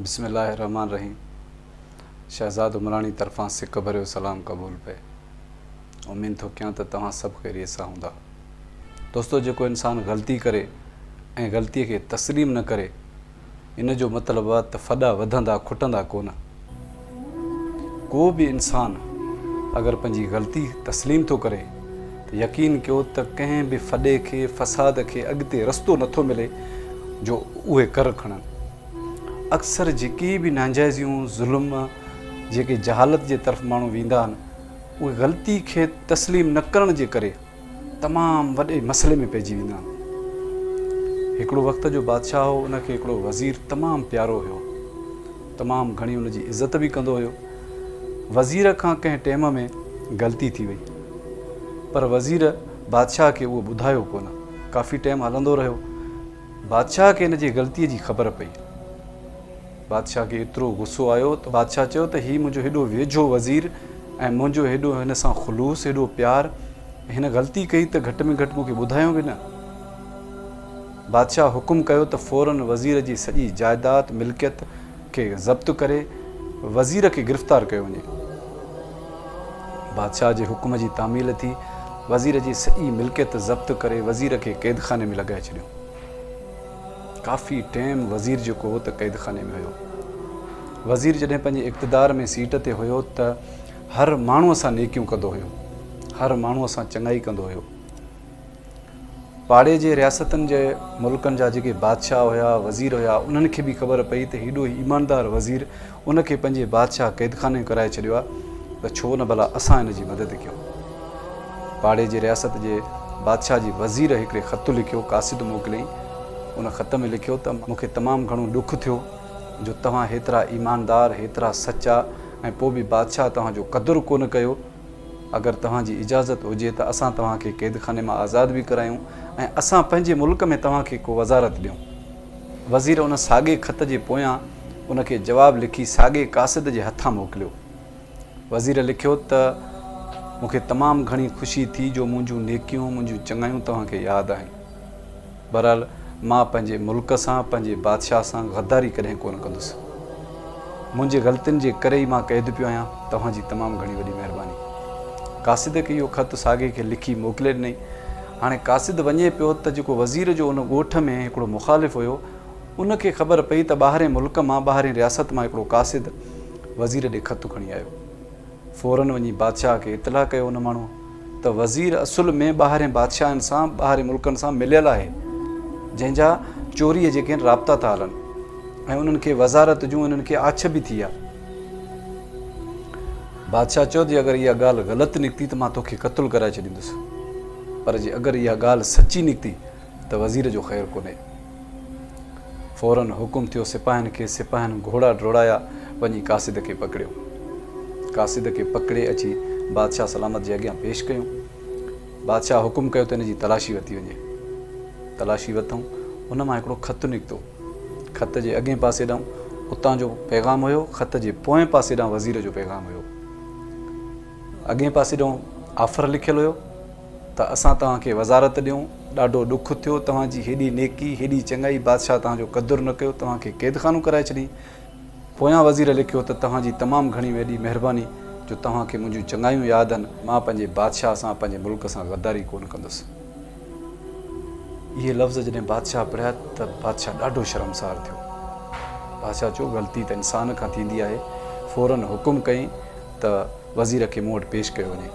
بسم الله الرحمٰن الرحيم شهزاد عمراڻي طرفان سڪ ڀريو سلام قبول پئي امين ٿو ڪيان ته توهان سڀ خيريت سان هوندا دوستو جيڪو انسان غلطي ڪري ۽ غلطي کي تسليم نه ڪري ان جو مطلب آ ته ڦڏا وڌندا کٽندا ڪونه ڪو به انسان اگر پنهنجي غلطي تسليم ٿو ڪري ته يقين ڪيو ته ڪنهن به ڦڏي کي، فساد کي اڳتي رستو نه ٿو ملي جو اهي ڪر کڻن. اڪثر جيڪي به نانجائزيون، ظلم، جيڪي جهالت جي طرف ماڻهو ويندا آهن، اهي غلطي کي تسليم نه ڪرڻ جي ڪري، تمام وڏي مسئلي ۾ پئجي ويندا آهن. هڪڙو وقت جو بادشاهه هو ان کي هڪڙو وزير تمام پيارو هيو تمام گهڻي ان جي عزت به ڪندو هيو وزير کان ڪنهن ٽيم ۾ غلطي ٿي وئي پر وزير بادشاهه کي اهو ٻڌايو ڪونه ڪافي ٽيم هلندو رهيو بادشاهه کي ان جي غلطي جي خبر پئي. بادشاهه کي ايترو غصو آيو ته بادشاهه چيو ته هي منهنجو هيڏو ويجهو وزير ۽ منهنجو هيڏو هن سان خلوص هيڏو پيار هن غلطي ڪئي ته گهٽ ۾ گهٽ مون کي ٻڌايو به نه. بادشاهه حڪم ڪيو ته فورا وزير جي سڄي جائداد، ملڪيت، کي ضبط ڪري وزير کي گرفتار ڪيو وڃي. بادشاهه جي حڪم جي تعميل ٿي وزير جي سڄي ملڪيت ضبط ڪري وزير کي قيدخاني ۾ لڳائي ڇڏيو. ڪافي ٽيم وزير جيڪو هو ته قيد خاني ۾ هيو. وزير جڏهن پنهنجي اقتدار ۾ سيٽ تي هيو ته هر ماڻهو سان نيڪيون ڪندو هيو. هر ماڻهو سان چڱائي ڪندو هيو. پاڙي جي رياستن جي ملڪن جا جيڪي بادشاهه هيا، وزير هيا انهن کي به خبر پئي ته هيڏو ايماندار وزير ان کي پنهنجي بادشاهه قيدخاني ۾ ڪرائي ڇڏيو آهي ته ڇو نه ڀلا اسان ان جي مدد ڪيون. پاڙي جي رياست جي بادشاهه جي وزير هڪڙي خط لکيو قاصد موڪليائين. ان خط ۾ لکيو ته مون کي تمام گهڻو ڏک ٿيو جو توهان هيترا ايماندار، هيترا سچا ۽ پوء به بادشاهه توهان جو قدر ڪونه ڪيو. اگر توهان جي اجازت هجي ته اسان توهان کي قيدخاني مان آزاد به ڪرايون ۽ اسان پنهنجي ملڪ ۾ توهان کي ڪو وزارت ڏيون. وزير ان ساڳئي خط جي پويان ان کي جواب لکي ساڳئي قاصد جي هٿان موڪليو. وزير لکيو ته مون کي تمام گهڻي خوشي ٿي جو منهنجون نيڪيون، منهنجون چڱايون توهان کي ياد آهن. بهرحال مان پنهنجي ملڪ سان، پنهنجي بادشاهه سان غداري ڪڏهن ڪونه ڪندس. منهنجي غلطين جي ڪري ئي مان قيد پيو آهيان. توهان جي تمام گهڻي وڏي مهرباني. قاصد کي اهو خط ساڳئي کي لکي موڪلي ڏنئي. هاڻي قاصد وڃي پيو ته جيڪو وزير جو ان ڳوٺ ۾ هڪڙو مخالف هيو، ان کي خبر پئي ته ٻاهرئين ملڪ مان، ٻاهرئين رياست مان هڪڙو قاصد وزير ڏي خط کڻي آيو. فوراً وڃي بادشاهه کي اطلاع ڪيو ان ماڻهو ته وزير اصل ۾ ٻاهرئين بادشاهن سان، ٻاهرئين ملڪن سان مليل آهي، جنهن جا چوريء جي ڪين رابطا ٿا هلن ۽ انهن کي وزارت جون انهن کي آڇ به ٿي آ. بادشاهه چيو، جي اگر اها ڳالهه غلط نڪتي ته مان توکي قتل ڪرائي ڇڏيندس، پر جي اگر اها ڳالهه سچي نڪتي ته وزير جو خير ڪونهي. فوراً حڪم ٿيو سپاهين کي، سپاهين گهوڙا ڊوڙايا، وڃي قاصد کي پڪڙيو. قاصد کي پڪڙي اچي بادشاهه سلامت جي اڳيان پيش ڪيون. بادشاهه حڪم ڪيو ته ان جي تلاشي ورتي وڃي. تلاشي ورتئون، ان مان هڪڙو خط نڪتو. خط جي اڳئين پاسي ڏانهن اتان جو پيغام هيو، خط جي پوئين پاسي ڏانهن وزير جو پيغام هيو. اڳئين پاسي ڏانهن آفر لکيل هيو ته اسان توهان کي وزارت ڏيون، ڏاڍو ڏک ٿيو، توهان جي هيڏي نيڪي، هيڏي چڱائي، بادشاهه توهان جو قدر نه ڪيو، توهان کي قيدخانو ڪرائي ڇڏين. پويان وزير لکيو ته توهان جي تمام گهڻي وڏي مهرباني جو توهان کي منهنجون چڱايون ياد آهن، مان پنهنجي بادشاهه سان، پنهنجي ملڪ سان غداري ڪونه ڪندس. اهي لفظ جڏهن بادشاهه پڙهيا ته بادشاهه ڏاڍو شرمسار ٿيو. بادشاهه چيو غلطي ته انسان کان ٿيندي آهي. فورن حڪم ڪيائين ته وزير کي مون وٽ پيش ڪيو وڃي.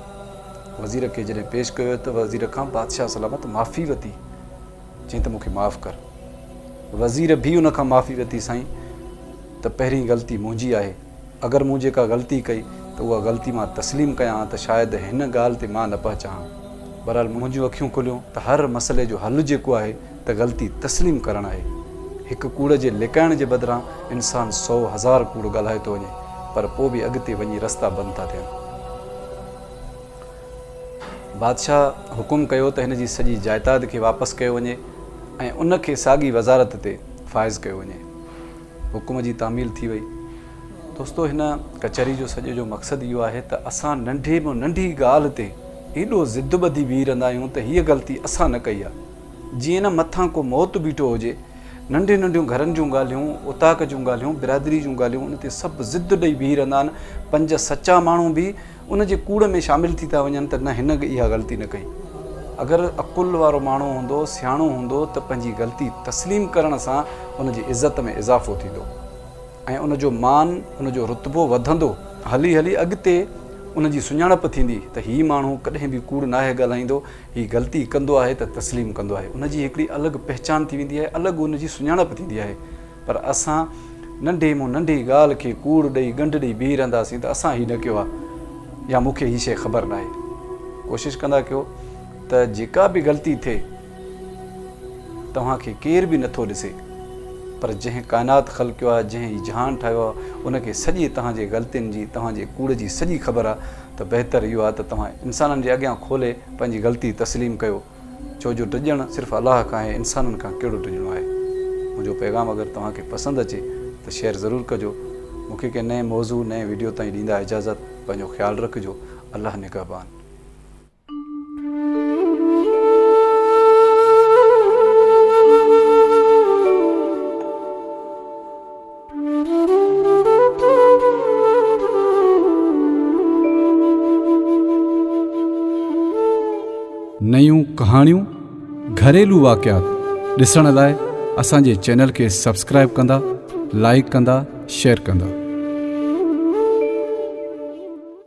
وزير کي جڏهن پيش ڪيو ويو ته وزير کان بادشاهه سلامت معافي ورتي. چيائين ته مون کي معاف ڪر. وزير به ان کان معافي ورتي سائين ته پهرين غلطي منهنجي آهي. اگر مون جيڪا غلطي ڪئي ته اها غلطي مان تسليم ڪيان ها ته شايد هن ڳالهه تي مان نه پهچان ها. بهرحال منهنجيون اکيون کليون ته هر مسئلي جو حل جيڪو آهي ته غلطي تسليم ڪرڻ آهي. هڪ ڪوڙ جي لڪائڻ جي بدران انسان سؤ هزار ڪوڙ ڳالهائي ٿو وڃي پر پوء به اڳتي وڃي رستا بند ٿا ٿين. بادشاهه حڪم ڪيو ته هن جي سڄي جائداد کي واپس ڪيو وڃي ۽ ان کي ساڳي وزارت تي فائز ڪيو وڃي. حڪم جي تعميل ٿي وئي. دوستو هن ڪچهري جو سڄي جو مقصد اهو آهي ته اسان ننڍي ۾ ننڍي ڳالهه تي ايڏو ضد ٻڌي بيهي رهندا آهيون ته هيء غلطي اسان نه ڪئي آهي. جيئن نه مٿان ڪو موت بيٺو هجي. ننڍيون ننڍيون گهرن جون ڳالهيون، اوطاق جون ڳالهيون، برادري جون ڳالهيون ان تي سڀ ضد ڏئي بيهي رهندا آهن. پنج سچا ماڻهو به. ان جي ڪوڙ ۾ شامل ٿي ٿا وڃن ته نه هن اها غلطي نه ڪئي. اگر عقل وارو ماڻهو هوندو، سياڻو هوندو ته پنهنجي غلطي تسليم ڪرڻ سان ان جي عزت ۾ اضافو ٿيندو ۽ ان جو مان، ان جو رتبو وڌندو. هلي هلي اڳتي ان جي سڃاڻپ ٿيندي ته هي ماڻهو ڪڏهن به ڪوڙ ناهي ڳالهائيندو، هي غلطي ڪندو آهي ته تسليم ڪندو آهي. ان جي هڪڙي الڳ پهچان ٿي ويندي آهي، الڳ ان جي سڃاڻپ ٿيندي آهي. پر اسان ننڍي مون ننڍي ڳالهه کي ڪوڙ ڏئي ڳنڍ ڏئي بيهي رهنداسين ته اسان هي نه ڪيو آهي يا مون کي هي شيء خبر ناهي. ڪوشش ڪندا ڪيو ته جيڪا به غلطي ٿئي توهان کي ڪير به نٿو ڏسي پر جنهن ڪائنات خلقيو آهي جنهن هي جهان ٺاهيو آهي ان کي سڄي توهان جي غلطين جي توهان جي ڪوڙ جي سڄي خبر آهي ته بهتر اهو آهي ته توهان انسانن جي اڳيان کولي پنهنجي غلطي تسليم ڪيو. ڇو جو ڊڄڻ صرف الله کان ۽ انسانن کان ڪهڙو ڊڄڻو آهي. منهنجو پيغام اگر توهان کي پسند اچي ته شيئر ضرور ڪجو. مون کي ڪنهن نئين موضوع نئين ويڊيو تائين ڏيندا اجازت پنهنجو خيال رکجو الله نگهبان. نيون ڪهاڻيون گهريلو واقعات ڏسڻ لاء اسان جي چينل کي سبسڪرائب ڪندا لائڪ ڪندا شيئر ڪندا